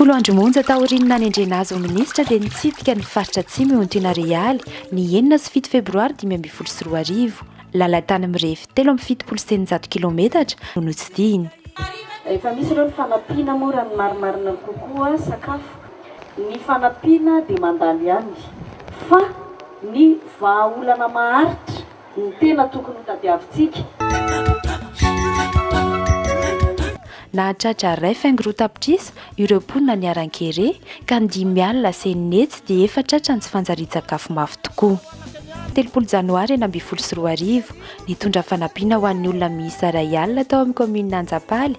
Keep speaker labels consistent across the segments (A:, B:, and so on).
A: Folo andro monja taorian'ny nanendrena azy ho minisitra dia nitsidika ny faritra Atsimo eo Antenarialy, ny enina sy fito febroary dimy ambin'ny folo sy roa arivo. Lalan-tany mirefy telo amby fitopolo sy eninjato kilaometatra no notsidihiny. Efa misy ireo ny fanampiana moa raha ny marimarina kokoa sakafo. Ny fanampiana dia mandalo ihany fa ny vahaolana maharitra no tena tokony ho tadiavintsika. Nahatratra iray faingo-roa tapitrisa ireo mponina niharan-kere ka ny dimy alina lasa enina hetsy dia efa tratra ny tsy fanjarian-tsakafo mafy tokoa. Telopolo janoary enina ambin'ny folo sy roa arivo, nitondra fanampiana ho an'ny olona miisa iray alina tao amin'ny kaominina Anjapaly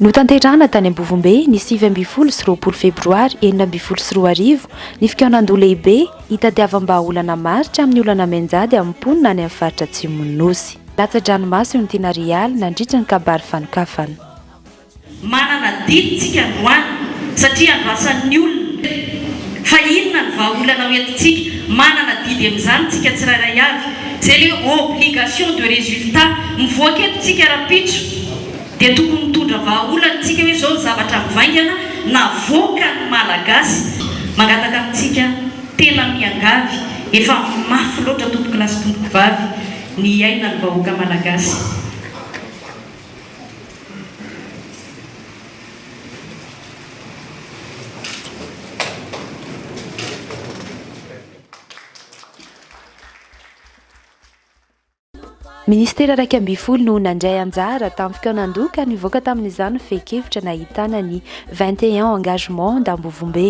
A: Notanterahana tany Ambovombe ny sivy ambin'ny folo sy roapolo febroary enina ambin'ny folo sy roa arivo ny fikaonandoha lehibe hitadiavam-bahaolana marika amin'ny olana mianjady amin'ny mponina any amin'ny faritra Atsimon'ny Nosy. Latsa-dranomaso eo ny tena Real nandritra ny kabary fanokafana. Manana didy tsika androany satria andrasan'ny olona fa inona ny vahaolana ho entintsika. Manana didy amin'izany tsika tsirairay avy. C'est leur obligation de résultat, mivoaka eto tsika rahampitso dia tokony mitondra vahaolana tsika hoe zao ny zavatra mivaingana navoaka ny malagasy mangataka amintsika tena miangavy efa mafy loatra tompoko lahy sy tompoko vavy ny hiainany vahoaka malagasy. Ministera iraika ambin'ny folo no nandray anjara tamin'ny fikaonandoha ka nivoaka tamin'izany ny fehin-kevitra nahitana ny 21 engagement d'Ambovombe.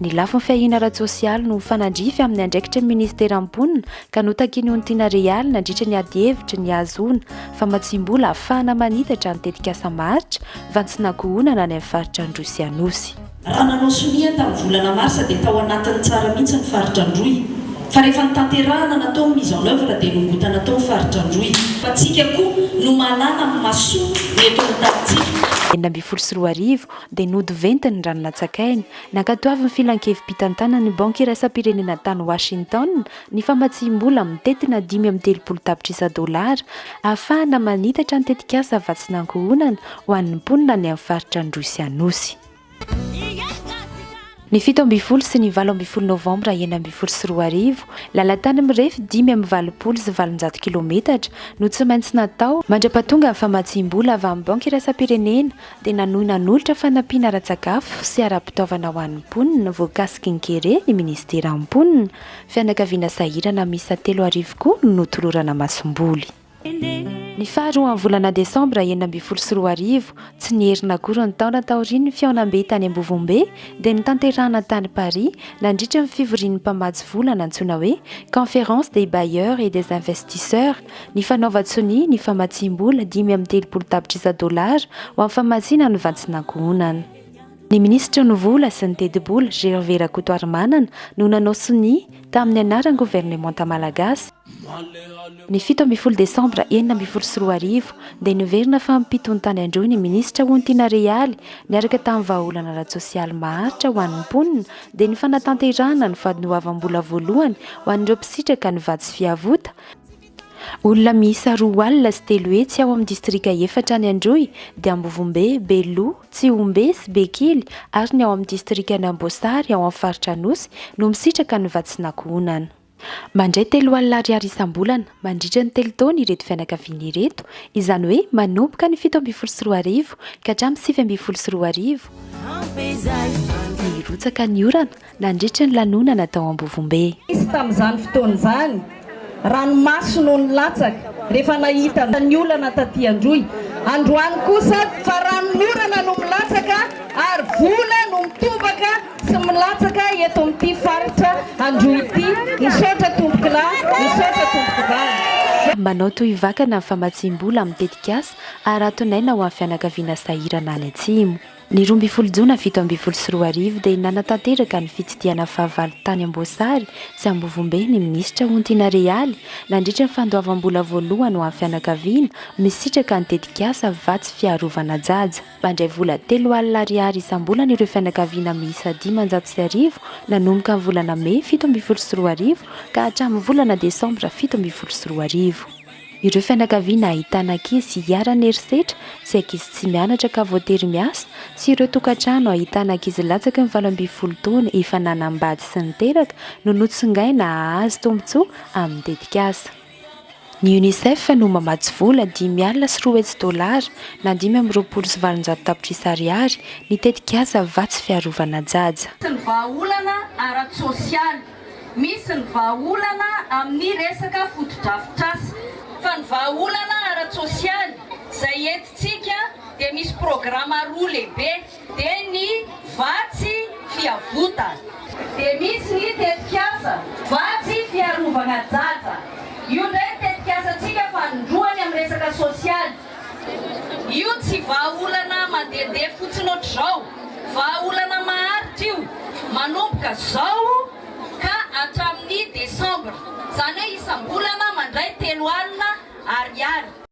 A: Ny lafiny fiahiana ara-tsosialy no mifanandrify amin'ny andraikitry ny minisitera mponina ka notaky ny Ontina Real nandritra ny adihevitra ny hahazoana famatsiam-bola hahafahana manitatra ny tetikasa maharitra fantsinankohonana any amin'ny faritra Androy sy Anosy. Raha nanao sonia tamin'ny volana marsa dia tao anatin'ny tsara mihitsy ny faritra Androy fa rehefa notanterahana natao ny mise en oeuvre dia nongotana tao ny faritra Androy. Fa tsika koa no mahalala amin'ny masoa ny eto amin'ny tanintsika. Enina ambin'ny folo sy roa arivo, dia nody venty ny rano natsakaina. Nankatoavin'ny Filan-kevi-pitantanan'ny Banky Iraisam-pirenena tany Washington ny famatsiam-bola amin'ny tetina dimy amby telopolo tapitrisa dolara ahafahana manitatra ny tetikasa vatsin'ankohonana ho an'ny mponina any amin'ny faritra Androsianosy. Ny fito ambin'ny folo sy ny valo ambin'ny folo novambra enina ambin'ny folo sy roa arivo, lalan-tany mirefy dimy amby valopolo sy valonjato kilometatra no tsy maintsy natao mandra-pahatonga ny famatsiam-bola avy amin'ny Banky Iraisam-pirenena dia nanohy nanolotra fanampiana ara-tsakafo sy ara-pitaovana ho an'ny mponina voakasiky ny kere ny Ministeran'ny Mponina, Fianakaviana Sahirana miisa telo arivo koa no notolorana masomboly. Ny faha roa amin'ny volana desambra enina ambin'ny folo sy roa arivo, tsy nierina akory ny taona taorian'ny fihaonambe tany Ambovombe, dia notanterahina tany Paris, nandritra ny fivorian'ny mpamatsy vola nantsoina hoe Conférence des bailleurs et des investisseurs, ny fanaovan-tsonia ny famatsiam-bola dimy amby telopolo tapitrisa dolara ho amin'ny famatsiana ny vantsin'ankohonana. Ny minisitry ny Vola sy ny tetibola, Gervais Rakotoarimanana, no nanao sonia, tamin'ny anaran'ny governemanta malagasy, Ny fito ambin'ny folo desambra enina ambin'ny folo sy roa arivo dia niverina fa mpitony tany Androy ny minisitra Hontiana Realy niaraka tamin'ny vahaolana ara-tsosialy maharitra ho an'ny mponina dia ny fanatanterahana ny vadiny hoavambola voalohany ho an'ireo mpisitraka ny vatsy fiavota olona miisa roa alina sy telo hetsy ao amin'ny distrika efatra any Androy dia Ambovombe, Beloha, Tsihombe sy Bekily ary ny ao amin'ny distrikan'Amboasary ao amin'ny faritra Anosy no misitraka ny vatsin'ankohonana. Mandray telo alina ariary isam-bolana mandritra ny telo taona ireto fianakaviana ireto, izany hoe manomboka ny fito ambin'ny folo sy roa arivo ka hatramin'ny sivy ambin'ny folo sy roa arivo, nirotsaka ny orana nandritry ny lanonana tao Ambovombe. Nisy tamin'izany fotoana izany ranomaso no nilatsaka rehefa nahita ny olana taty Androy. Androany kosa fa ranon'orana no milatsaka ary vola no mitobaka Tsy milatsaka eto amin'ity faritra androy ity. Misaotra tompokla, misaotra tompoko vavy. Manao toy vakana ny famatsiam-bola amin'ny tetikasa Haraton'aina ho an'ny fianakaviana sahirana any Atsimo. Ny roa ambin'ny folo jona fito ambin'ny folo sy roa arivo dia nanatanteraka ny fitsidihana fahavalo tany Amboasary sy Ambovombe ny minisitra Hontiana Realy nandritra ny fandoavam-bola voalohany ho an'ny fianakaviana misitraka ny tetikasa Vatsy Fiarovana Jaja. Mandray vola telo alina ariary isam-bolana ireo fianakaviana miisa dimanjato sy arivo nanomboka ny volana mey fito ambin'ny folo sy roa arivo ka hatramin'ny volana desambra fito ambin'ny folo sy roa arivo. Ireo fianakaviana ahitana ankizy iharan'ny herisetra sy ankizy tsy mianatra ka voatery miasa sy ireo tokantrano ahitana ankizy latsaky ny valo ambin'ny folo taona efa nanambady sy niteraka no notsongaina hahazo tombontsoa amin'ny tetikasa Ny Unicef no mamatsy vola dimy alina sy roa hetsy dolara na dimy amby roapolo sy valonjato tapitrisa ariary ny tetikasa Vatsy fiarovana Jaja. sy ny vahaolana ara-tsosialy, misy ny vahaolana amin'ny resaka fotodrafitrasa, fa ny vahaolana ara-tsosialy izay entintsika dia misy programa roa lehibe, Dia ny vatsy fiavotana. Dia misy ny tetikasa vatsy fiarovana jaja. Io indray ny tetikasantsika fanindroany amin'ny resaka sosialy. Io tsy vahaolana mandehandeha fotsiny ohatr'izao. Vahaolana maharitra io, manomboka izao ka hatramin'ny desambra. Izany hoe isam-bolana mandray telo alina Ariary.